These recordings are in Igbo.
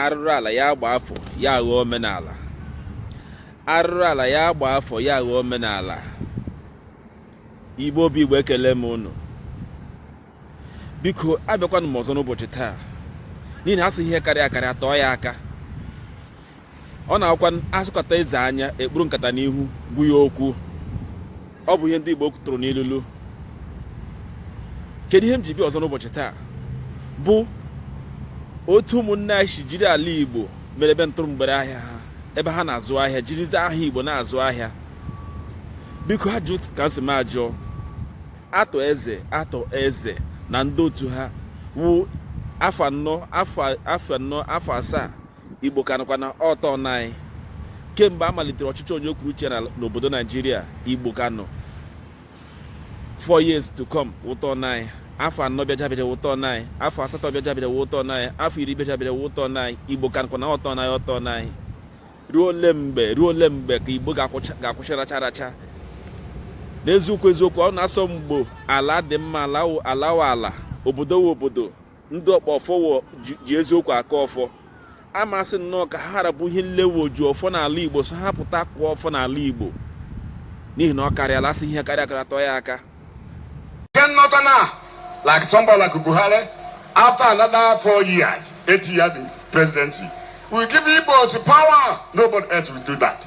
arụrụ ala ya agba afọ ya aghọọ omenala arụrụ ala ya agba afọ ya aghọọ omenala Igbo bụ Igbo ekele m unu biko abịakwanụ m ọzọ n'ụbọchị taa n'ihi na a sị ihe karịa akarịa tọọ ya aka ọ na-abụkwanụ a sọkata eze anya e kpuru nkata n'ihu gwa ya okwu ọ bụ ihe ndị Igbo tụrụ n'ilulu kedu ihe m ji bịa ọzọ n'ụbọchị taa bụ otu ụmụnne anyị si jiri ala Igbo mere ebe ntụrụ mgbere ahịa ha ebe ha na-azụ ahịa jirizi aha Igbo na-azụ ahịa biko ajụjụ ka m sị m ajụọ Arthur Eze Arthur Eze na ndị otu ha wụ afọ anọ afọ anọ afọ asaa Igbo ka nọkwa na ọ turn anyị kemgbe a malitere ọchịchị onye kwuru uche n'obodo Naịjirịa Igbo ka nọ four years to come ọ turn anyị afọ anọ bịaga abịa ọ turn anyị afọ asatọ bịaga abịa ọ turn anyị afọ iri bịaga abịa ọ turn anyị Igbo ka nọkwa na ọ turn anyị ọ turn anyị ruo ole mgbe ruo ole mgbe ka Igbo ga-akwụsị racha racha n'eziokwu eziokwu ọ na a sị ọ mgbe ala dị mma ala wụ ala obodo wụ obodo ndị ọkpọ ọfọ ji eziokwu aka ọfọ amasị nnọọ ka ha ra bụ ihe niile wụ oji ọfọ n'ala Igbo sị ha pụta kụọ ọfọ n'ala Igbo n'ihi na ọ karịala a sị ihe karịa akarịa tọọ ya aka like somebody like Buhari after another four years eight years presidency will give Igbos power nobody else will do that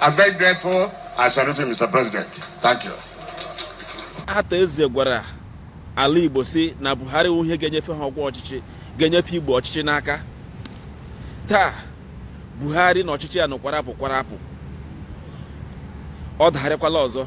I'm very grateful. I salute you, Mr. President. Thank you. Arthur Eze gwara ala Igbo sị na Buhari wụ ihe ga-enyefe ha ọkwa ọchịchị ga-enyefe Igbo ọchịchị n'aka taa Buhari na ọchịchị ya nọkwara apụ kwara apụ ọ dagharịkwala ọzọ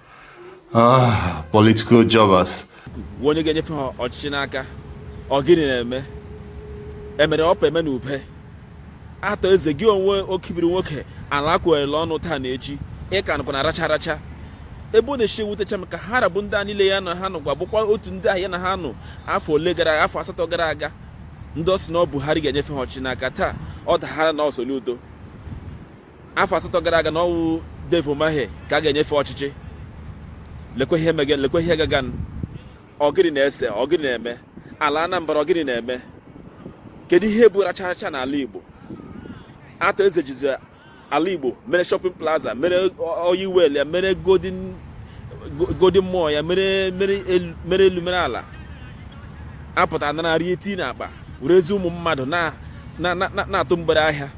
Ah, political jobbers. onye ga-enyefe ha ọchịchị n'aka ọ gịnị na-eme emere ọpa eme na ube Arthur Eze gị onwe okibiri nwoke ala kwerela ọnụ taa na echi ị ka nọkwa na racha racha ebe ọ na-esi ewutecha m ka ha ra bụ ndị a niile ya na ha nọ ugbua bụkwa otu ndị ahụ ya na ha nọ afọ ole gara afọ asatọ gara aga ndị ọ sị na ọ Buhari ga-enyefe ha ọchịchị n'aka taa ọ dagharịa na ọ Soludo afọ asatọ gara aga na ọ wụ Dave Umahi ka a ga-enyefe ọchịchị lekwe ihe mege lekwe ihe gagan ọ gịrị na-ese ọ gịrị na-eme ala Anambra ọ gịrị na-eme kedu ihe bụ racha racha n'ala Igbo Arthur Eze jizi ala Igbo mere shopping plaza mere oil well ya mere golden mall ya mere elu mere ala apụta anara eti n'akpa werezi ụmụ mmadụ na-atụ mgbere ahịa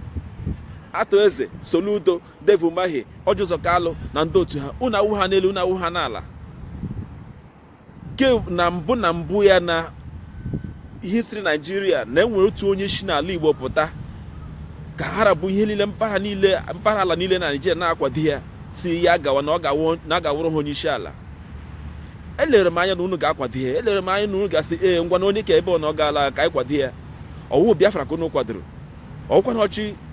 Arthur Eze Soludo Dave Umahi Orji Uzor Kalu na ndị otu ha unu awụ ha n'elu unu awụ ha n'ala ke na mbụ na mbụ ya na history naijiria na e nwere otu onye si n'ala igbo pụta ka ha ra bụ ihe niile mpaghara niile mpaghara ala niile na naijiria na-akwado ya sị ya gawa na ọ ga-awụrụ ha onye isi ala elere m anya na unu ga-akwado ya elere m anya na unu ga-asị ee ngwanụ onye ka ebe ọ na ọ gaala ka anyị kwado ya ọ wụ Biafra ka unu kwadoro ọ wụkwanụ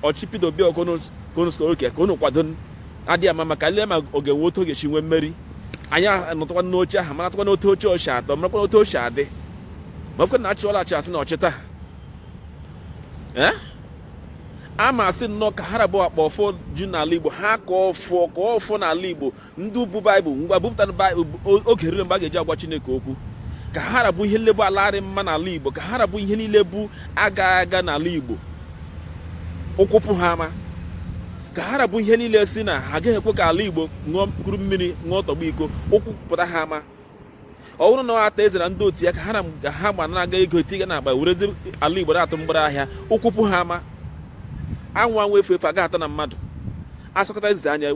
ọchịchị Peter Obi okonoskoke ka unu kwado a dịghị ama ama ka e lee ma ọ ga-enwe otu ọ ga-esi nwee mmeri anyị anọtụkwa n'oche ahụ maratụkwanụ otu o si o si atọ marakwanụ otu o si adị makwa na achị ọlachi asị na ọchịta eh? a ma asị nnọọ ka ha ra bụ akpa ọfọ ji n'ala Igbo ha ka ọfọ ka ọfọ n'ala Igbo ndị bu baịbụl ngwa bupụtara oge erule mgbe a ga-eji agwa chineke okwu ka ha ra bụ ihe niile bụ ala adịghị mma n'ala igbo ka ha rabụ ihe niile bụ aga aga n'ala igbo ụkwụ pụ ha ama ka ha ra bụ ihe niile sị na ha agaghị ekwe ka ala igbo nọọ kuru mmiri ṅụọ tọgbọ iko ụkwụ pụta ha ama ọ bụrụ na ọ Arthur Eze na ndị otu ya ka ha na ha gba na-anara ego etiga n'akpa werezi ala igbo atụ mgbere ahịa ụkwụ pụ ha ama anwụ anwụ efu efu aga ata na mmadụ a sọkata eze anya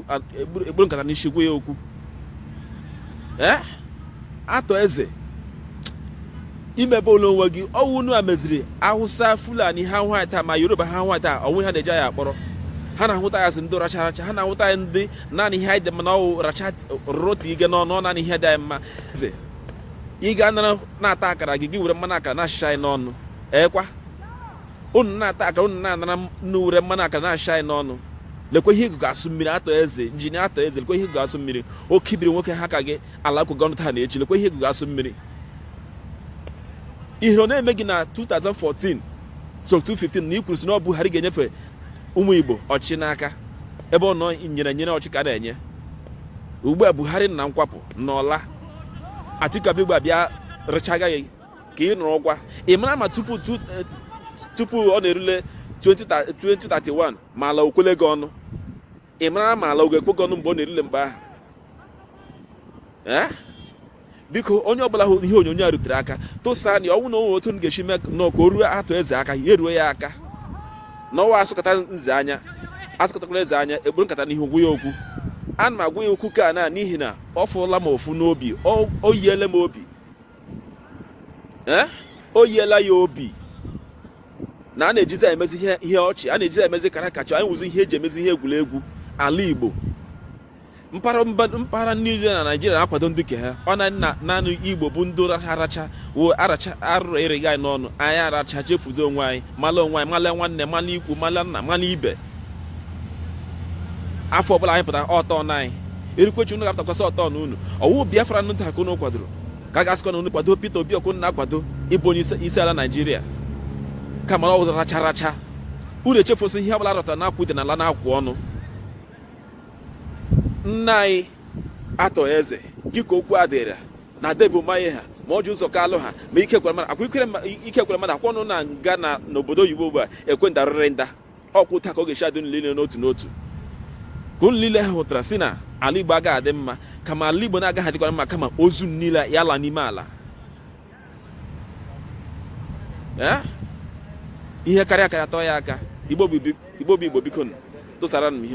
ekpuru nkata n'isi gwa ya okwu ee Arthur Eze i mebọọla onwe gị ọ wụ unu a meziri awụsa fulani ha hụ anyị taa ma yoruba ha hụ anyị taa o nweghị ihe ha na-eji anyị akpọrọ ha na-ahụta anyị sị ndị racha racha ha na-ahụta anyị ndị naanị ihe anyị dị mma na ọ wụ racha roti ige n'ọnụ naanị ihe dị anyị mma ị ga nara na-ata akara gị gị were mmanụ akara na-echicha anyị n'ọnụ ọkwa unu na-ata akara unu na-anara unu were mmanụ akara na-echicha anyị n'ọnụ lekwa ihe ịgụgụ asụ mmiri Arthur Eze injinia Arthur Eze lekwa ihe ịgụgụ asụ mmiri oke ibiri nwoke ha ka gị ala ekwe gị ọnụ taa na echi lekwa ihe ịgụgụ asụ mmiri ihere ọ na-eme gị na 2014 so 2015 na i kwuru sị na ọ Buhari ga-enyefe ụmụ Igbo ọchịchị n'aka ebe ọ nọ nyere enyere ọchịchị ka a na-enye ugbu a Buhari na nkwapụ n'ọla Atiku Abịagba bịa rechaga gị ka ị nụrụ ọkwa ị mara ma tupu eh, tupu ọ na-erule 2031 ma ala o kwele gị ọnụ ị mara ma ala ọ ga-ekwe gị ọnụ mgbe ọ na-erule mgbe ahụ biko onye ọbụla hụ ihe onyonyo a rutere aka tụsanụ ọ wụ na o nwe otu unu ga-esi mee nụ ka o ruo Arthur Eze aka ya eruo ya aka na ọ wụ a sọkata eze anya a sọkatakwala eze anya ekpuru nkata n'ihu gwa ya okwu ana m agwa ya okwu ka na n'ihi na ọ fụọla m ụfụ n'obi o yiele m obi o yiela ya obi na a na-ejizi emezi ihe ọchị a na-ejizi emezi caricature anyị wụzi ihe eji emezi ihe egwuregwu ala Igbo mpaghara niile na naijiria na-akwado ndị ke ha ọ na naanị igbo bụ ndị aracha wo aracha arụrụ ereghị anyị n'ọnụ anyị aracha chefuzi onwe anyị mala onwe anyị mala nwanne mala ikwu mala nna mala ibe afọ ọbụla anyị pụtara ọtọ na anyị erikwechi unu ga-apụtakwasị ọtọ na unu ọ wụ biafra ndị a ka unu kwadoro ka a ga-asịkwa na unu kwado Peter Obi ọkụ na-akwado ịbụ onye isi ala Naijiria kama ọ wụzi aracha racha unu echefusi ihe ọbụla rọta na akwụ dị n'ala na-akwụ ọnụ nna anyị Arthur Eze gị ka okwu a dịrị na Dave Umahi ha ma Orji Uzor Kalu ha ma Ike Ekweremadu akwa Ike Ekweremadu akwa ọ nọ na nga na n'obodo oyibo ugbu a ekwe ndarịrị nda ọ kwa otu a ka ọ ga-esi adị nlile n'otu n'otu ka unu niile ha hụtara sị na ala igbo agaghị adị mma kama ala igbo na-agaghị adịkwara mma kama ozu niile ya ala n'ime ala eh? ihe karịa karịa tọọ ya aka igbo bụ igbo biko tụsara m ihe